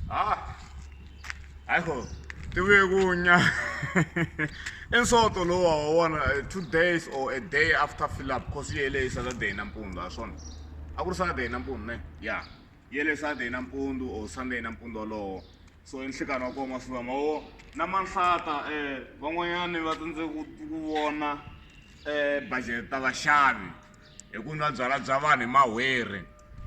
Ah, ayiho tivuye kunya i nsoto lowu wa wona eh, two days or a day after fill up cause yi hele hi saturday nampundzu ha swona a ku ri saturday nampundzu ne ya yi hele saturday nampundzu or sunday nampundzu wolowo so i nhlikani wa koma swi vama wo na manhlata um van'wanyani va tsandze ku ku vona um budget ta vaxavi hi ku nwa byalwa bya vanhu hi mahwerhi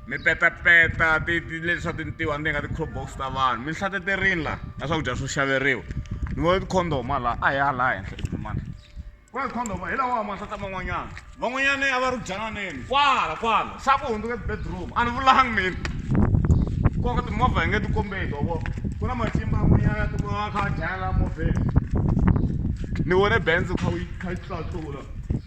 mi petapeta leswa tintiwa ni nga ti-crop box ta vanhu mi hlateterini laha na swakudya swo xaveriwa ni vona ti-condom a laha a hi ya laha henhla timana ku na ti-condom hi lawa mahlata man'wanyana van'wanyana a va ri byananeni kwala kwala xa ku hundzuka ti-bedroom a ni vulangi mina koka timovha hi nge ti kombeki wa vona ku na matimba man'wanyana ya tikuma va kha va dlayela movheni ni vone benz kha yi kha yi tlatlula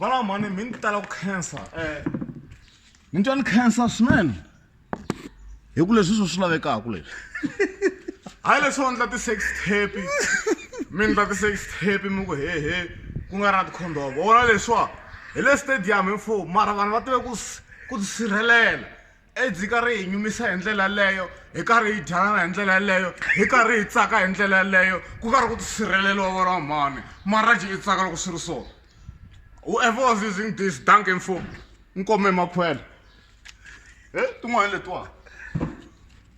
Valava mhani mi ni tala ku khensa eh. ni twa ni khensa swinene hi ku leswi swo swi lavekaka leswi hayi leswi va ndla ti-sex tape mi ndla ti-sex tape mi ku hehe ku nga ri na tikhondomo vona leswiwa hi le stadium hi mfo mara vanhu va tive ku ku tisirhelela edzi ka ri hi nyumisa hi ndlela yaleyo hi karhi hi dyanana hi ndlela yaleyo hi karhi hi tsaka hi ndlela yaleyo ku karhi ku tisirheleliwa vona wa mhani maraji i tsaka loko swi ri so whoever was using this dank info nkome makhwela he tin'wana letiwani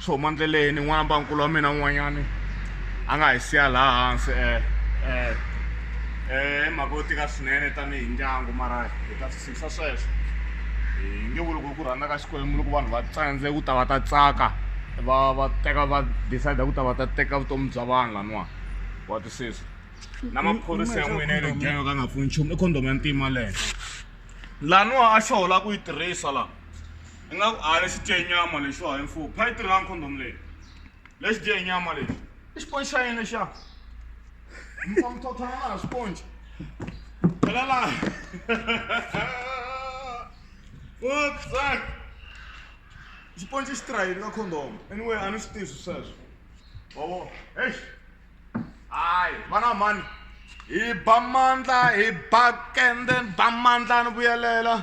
swo huma ndleleni n'wana bankulu wa mina un'wanyani a nga hi siya laha hansi um um um i mhaka yo tika swinene tanihi ndyangu mara hi ta swi tshikisa sweswo hi nge vuli ku ku rhandza ka xikwembu loko vanhu va tsandze ku ta va ta tsaka va va teka va decide ku ta va ta teka vutomi bya vanhu laniwani wa twisisa na maphorisa ya n'wina ya le genge ka nga pfuni nchumu i condom ya ntima leyo laniwa a xo hola ku yi tirhisa laha ingaku a lexi dye nyama lexi wa info pha yi tirhanga condom leyi lexi dye nyama lexi i xiponci xa yini lexiya mfa muthothana na ha xiponci phela laha utsak xiponci xi tirha yini ka condom anyway a ni swi tivi swi sweswo wawo heyi hayi vana mhani hi ba mandla hi ba kende ni ba mandla ni vuyelela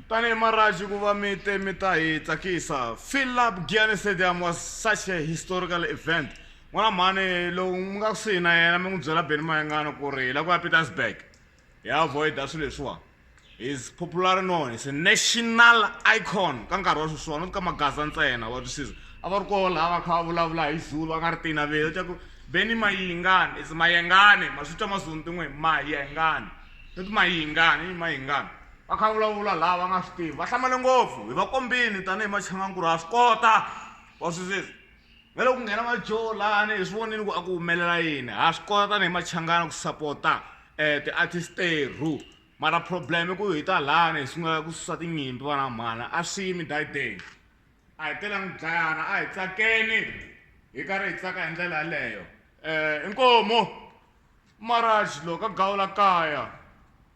tanihi maraji ku va mi te mi ta hi tsakisa philip giane stadium was such a historical event n'wana mhani lowu mi nga kusuhi na yena mi n'wi byela beni mayengana ku ri hi la ku ya petersburg hi avoida swilo leswiwani is popular known is a national icon ka nkarhi wa sweswiwani u ka magaza ntsena wa twisisa a va ri koho laha va kha va vulavula hi zulu va nga ri tinaveli ta ku beni mayingani is mayengani ma swi twa mazulu tin'we mayengani no ti mayingani i mayingani va kha va vulavula laha va nga swi tivi va hlamale ngopfu hi va kombini tanihi machangankulu ha swi kota wa swisisa va le ku nghena va jolani hi swi vonini ku a ku humelela yini ha swi kota tanihi machangana ku sapota um eh, ti-artist teru mara problem i ku hi ta lani hi sungula ku susa tinyimpi vana mhana a swi yimi dayideni a hi telangi dlayana a hi tsakeni hi karhi hi tsaka hi ndlela yaleyo um eh, inkomo maraj loko a gawula kaya